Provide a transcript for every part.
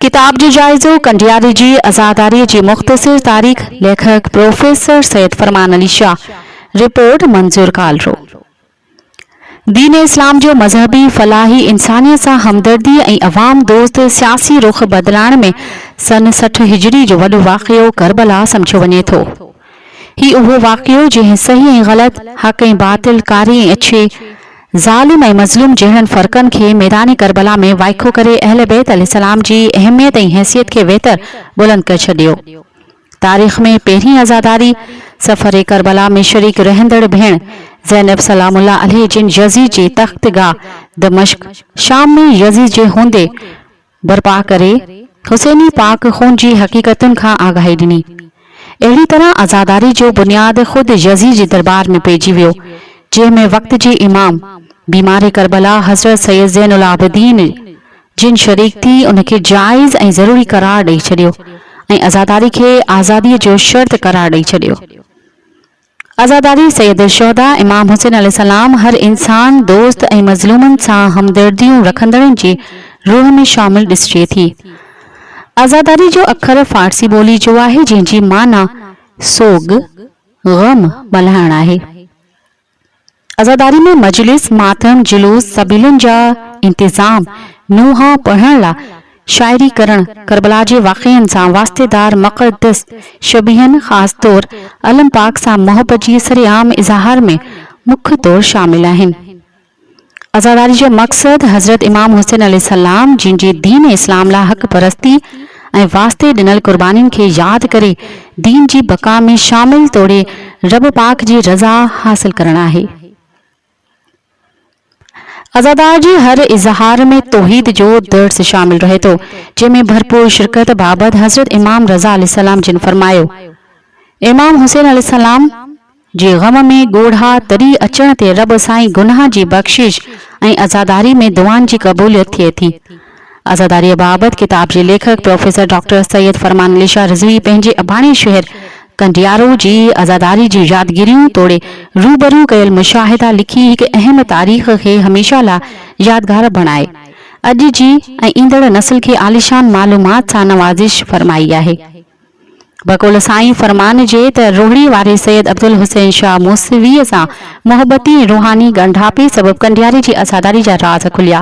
ڪتاب جو جائزو ڪنڊياري جي عزاداريء جي مختصر تاريخ ليکڪ پروفيسر سيد فرمان علي شاهه رپورٽ منظور ڪالرو دين اسلام جو مذهبي، فلاحي، انسانيت سان همدردي ۽ عوام دوست سياسي رخ بدلائڻ ۾ سن سٺ هجري جو وڏو واقعو ڪربلا سمجهيو وڃي ٿو. هي اهو واقعو جنهن صحيح ۽ غلط، حق ۽ باطل، ڪاري ۽ اڇي، ظالم ۽ مظلوم جهڙن فرقن کي ميدان ڪربلا ۾ وائکو ڪري اهل بيت عليه السلام جي اهميت ۽ حيثيت کي ويتر بلند ڪري ڇڏيو. تاريخ ۾ پهرين عزاداري سفر ڪربلا ۾ شريڪ رهندڙ ڀيڻ زينب سلام الله عليه جن يزيد جي تخت گاهه دمشق، شام، ۾ يزيد جي هوندي برپا ڪري حسيني پاڪ خون جي حقيقتن کان آگاهي ڏني. اهڙي طرح عزاداري جو بنياد خود يزيد جي دربار ۾ پئجي ويو، جنهن ۾ وقت جي امام، بيمار ڪربلا حضرت سيد زين العابدين جن شريڪ ٿي ان کي جائز ۽ ضروري قرار ڏئي ڇڏيو ۽ عزاداري کي آزاديء جو شرط قرار ڏئي ڇڏيو. عزاداري سيد الشهداء امام حسين عليه السلام هر انسان دوست ۽ مظلومن سان همدرديون رکندڙن جي روح ۾ شامل ڏسجي ٿي. عزاداري جو اکر فارسي ٻولي جو آهي جنهن جي معنيٰ سوڳ، غم، ملهائڻ آهي. عزاداري ۾ مجلس، ماتم، جلوس، سبيلن جا انتظام، نوحا پڙهڻ لا شاعري ڪرڻ، ڪربلا جي واقعن سان واسطيدار مقدس شبيهن خاص طور علم پاڪ سان محبت جي سري عام اظهار ۾ مک طور شامل آهن. عزاداري جو مقصد حضرت امام حسين عليه السلام جن جي دين اسلام لا حق پرستي، ۽ واسطي ڏنل قربانين کي ياد ڪري دين جي بقا ۾ شامل توڙي رب پاڪ جي رضا حاصل ڪرڻ آهي. عزادار جي هر اظهار ۾ توحيد جو درس شامل رهي ٿو، جنهن ۾ ڀرپور شرڪت بابت حضرت امام رضه عليه السلام جن فرمايو، امام حسين عليه السلام، جي غم ۾ ڳوڙها تري اچڻ تي رب سائين گناهه جي بخشش ۽ عزاداري ۾ دعائن جي قبوليت ٿئي ٿي. عزاداريء بابت ڪتاب جي ليکڪ پروفيسر ڊاڪٽر سيد فرمان علي شاهه رضوي پنهنجي اباڻي شهر ڪنڊيارو جي عزاداري جون يادگيريون توڙي روبرو ڪيل مشاهدا لکي هڪ اهم تاريخ کي هميشه لاء يادگار بڻائي اڄ جي ۽ ايندڙ نسل کي عاليشان معلومات سان نوازش فرمائي آهي. بقول سائين فرمان جي ته روهڙي واري سيد عبدالحسين شاهه موسويء سان محبتي ۽ روحاني ڳنڍاپي سبب ڪنڊياري جي عزاداري جا راز کليا.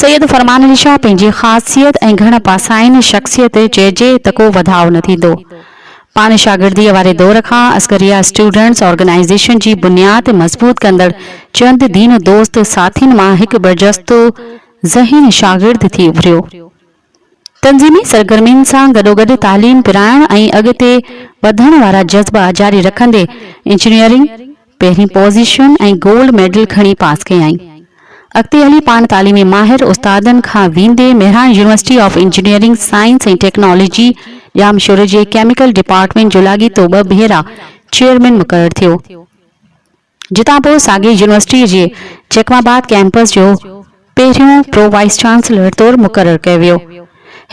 سيد فرمان علي شاهه پنهنجي خاصيت ۽ گهڻ پاسائين شخصيت چئجي ته ڪو وڌاء نه ٿيندو. پاڻ شاگرديء واري دور کان عسڪريه اسٽوڊنٽس آرگنائيزيشن جي بنياد مضبوط ڪندڙ چند دين دوست ساٿين مان هڪ برجستو ذهين شاگرد ٿي اڀريو. تنظيمي سرگرمين سان گڏوگڏ تعليم پرائڻ ۽ اڳتي وڌڻ وارا جذبا جاري رکندي انجنيئرنگ پهرين پوزيشن ۽ گولڊ ميڊل کڻي پاس ڪيائين. اڳتي هلي پاڻ تعليمي ماهر استادن کان ويندي Mehran university of engineering science ۽ technology ڄامشوري جي ڪيميڪل ڊپارٽمينٽ جو لاڳيتو ٻه ڀيرا چيئرمين مقرر ٿيو. جتان پوء ساڳي يونيورسٽيء جي جيڪب آباد ڪئمپس جو پهريون پرو وائيس چانسلر طور مقرر ڪيو ويو.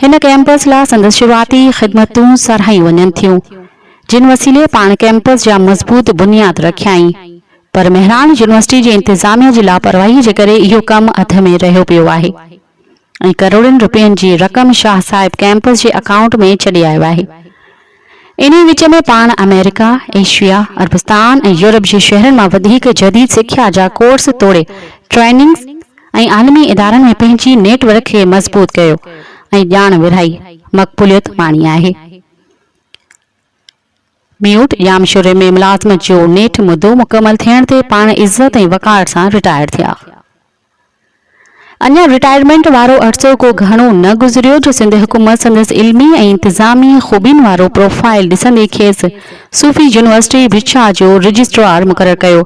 هن ڪئمپس لا سندس شروعاتي خدمتون ساراهيون وڃن ٿيون، جن وسيلي پاڻ ڪئمپس جا مضبوط بنياد رکيائين، پر مهراڻ يونيورسٽيء جي انتظاميه جي لاپرواهيء جي ڪري اهو ڪم اڌ ۾ رهيو پيو آهي. ۽ ڪروڙين رپين جي رقم شاهه صاحب ڪئمپس جي اڪائونٽ ۾ ڇڏي آيو آهي. انهي وچ ۾ پاڻ آمريڪا، ايشيا، عربستان ۽ يورپ جي شهرن مان وڌيڪ جديد سکيا جا ڪورس توڙي ٽريننگز ۽ عالمي ادارن ۾ پنهنجي نيٽ ورڪ کي مضبوط ڪيو ۽ ڄاڻ ورهائي مقبوليت ماڻي آهي. ميوٽ، ڄامشوري ۾ ملازمت جو نيٺ مدو مڪمل ٿيڻ تي پاڻ عزت ۽ وقار سان رٽائرڊ ٿيا. اڃا رٽائرمينٽ وارو عرصو ڪو گهڻو نه گذريو جو سنڌ حڪومت سندس علمي ۽ انتظامي خوبين وارو پروفائيل ڏسندي کيس صوفي يونيورسٽي ڀٽشاه جو رجسٽرار مقرر ڪيو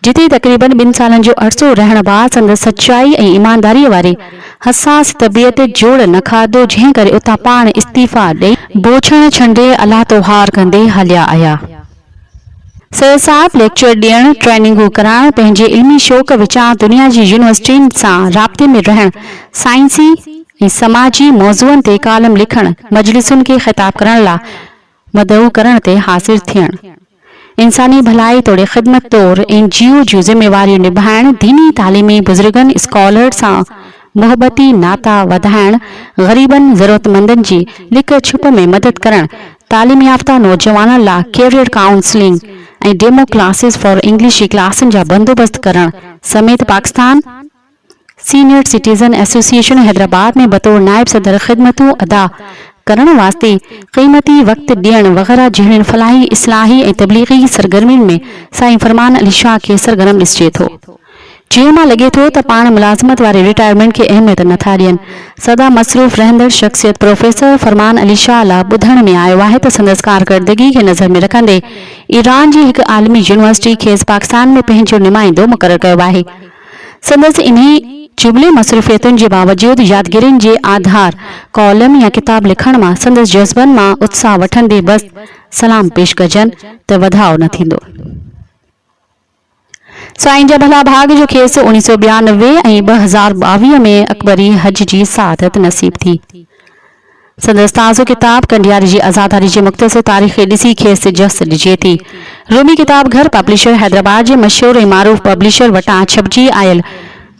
جتي تقريبن ٻن سالن جو عرصو رهڻ بعد سندس سچائي ۽ ايمانداري واري حساس طبيعت جوڙ نه کاڌو جنهن ڪري اتان پاڻ استعيفيٰ ڏئي بوڇڻ ڇنڊي الله تهوار ڪندي هليا آيا. سر صاحب ليڪچر ڏيڻ، ٽريننگون ڪرائڻ، پنهنجي علمي شوق وچان دنيا جي يونيورسٽين سان رابطي ۾ رهڻ، سائنسي ۽ سماجي موضوعن تي ڪالم لکڻ، مجلسن کي خطاب ڪرڻ لا مدعو ڪرڻ تي حاضر ٿيڻ، انساني ڀلائي توڙي خدمت طور اين جي او جون ذميواريون نڀائڻ، ديني تعليمي بزرگن، اسڪالرز سان محبتي ناتا وڌائڻ، غريبن ضرورتمندن جي لڪ ڇپ ۾ مدد ڪرڻ، تعليم يافته نوجوانن لا career counselling ۽ demo classes for English جي ڪلاسن جا بندوبست ڪرڻ سميت Pakistan senior citizen association Hyderabad ۾ بطور نائب صدر خدمتون ادا ڪرڻ واسطي قيمتي وقت ڏيڻ وغيره جهڙين فلاحي اصلاحي ۽ تبليغي سرگرمين ۾ سائين فرمان علي شاهه کي سرگرم ڏسجي ٿو. چيو مان لڳي ٿو ته پاڻ ملازمت واري رٽائرمينٽ کي اهميت نه ٿا ڏين. سدا مصروف رهندڙ شخصيت پروفيسر فرمان علي شاهه لا ٻڌڻ ۾ آيو آهي ته سندس ڪارڪردگي کي نظر ۾ رکندي ايران جي هڪ عالمي يونيورسٽي کيس پاڪستان ۾ پنهنجو نمائندو مقرر ڪيو آهي سندس انهي جملي مصروفيتن جي باوجود يادگيرين جي آڌار ڪالم يا ڪتاب لکڻ مان سندس جذبن مان اتساهه وٺندي بس سلام پيش ڪجن ته وڌاء نه ٿيندو. سائين جا ڀلا ڀاڳ جو کيس اوڻيھ سؤ ٻيانوي ۽ ٻه هزار ٻاويهه ۾ اڪبري حج جي سعادت نصيب ٿي. سندس تازو ڪتاب ڪنڊياري جي عزاداري جي مختصر تاريخ کي ڏسي کيس جس ڏجي ٿي. رومي ڪتاب گهر پبلشر حيدرآباد جي مشهور ۽ معروف پبلشر وٽان ڇپجي آيل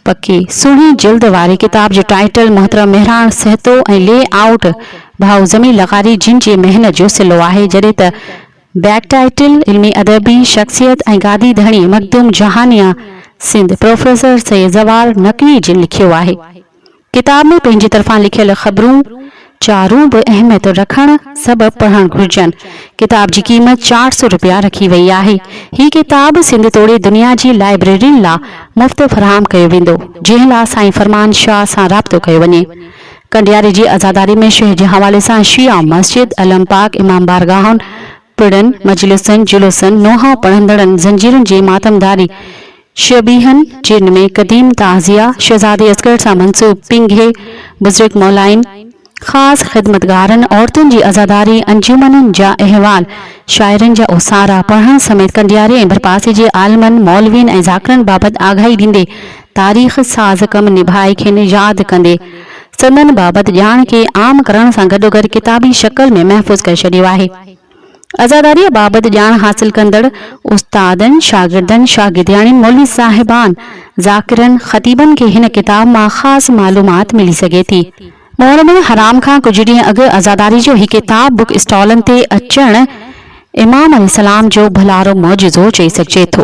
پڪي سهڻي جلد واري ڪتاب جو ٽائيٽل محترم مهراڻ سهتو ۽ لي آئوٽ ڀائو زمين لغاري جن جي محنت جو صلو آهي جڏهن ته بيڪ ٽائيٽل، علمي ادبي شخصيت ۽ گادي ڌڻي مخدوم جهانيان سنڌ پروفيسر سيد زوال نقوي جي لکيو آهي. ڪتاب ۾ پنهنجي طرفان لکيل خبرون چارون به اهميت رکڻ سبب پڙهڻ گهرجن. ڪتاب جي قيمت چار سئو رپيا رکي وئي آهي. هي ڪتاب سنڌ توڙي دنيا جي لائبريرين لا مفت فراهم ڪيو ويندو، جنهن لا سائين فرمان شاهه سان رابطو ڪيو وڃي. ڪنڊياري جي عزاداري ۾ شيخ جي حوالي سان شيعا مسجد، علم پاڪ، امام بارگاهن، پڙن، مجلسن، جلوسن، نوحا پڙهندڙن، زنجيرن جي ماتمداري، شيبيهن جي ۾ قديم تعزيه، شهزادي اصغر سان منسوب پينگهي بزرگ مولائين، خاص خدمتگارن، عورتن جي عزاداري، انجمنن جا احوال، شاعرن جا اوسارا پڙهڻ سميت ڪنڊياري ۽ ڀرپاسي جي عالمن، مولوين ۽ ذاڪرن بابت آگاهي ڏيندي تاريخ ساز ڪم نڀائي کين ياد ڪندي سندن بابت ڄاڻ کي عام ڪرڻ سان گڏوگڏ ڪتابي شڪل ۾ محفوظ ڪري ڇڏيو آهي. عزاداريء بابت ڄاڻ حاصل ڪندڙ استادن، شاگردن، شاگردياڻين، مولوي صاحبان، ذاڪرن، خطيبن کي هن ڪتاب مان خاص معلومات ملي سگهي ٿي. محرم الحرام کان ڪجهه ڏينهن اڳ عزاداري جو هي ڪتاب بوڪ اسٽالن تي اچڻ امام عليه السلام جو ڀلارو معجزو چئي سگهجي ٿو.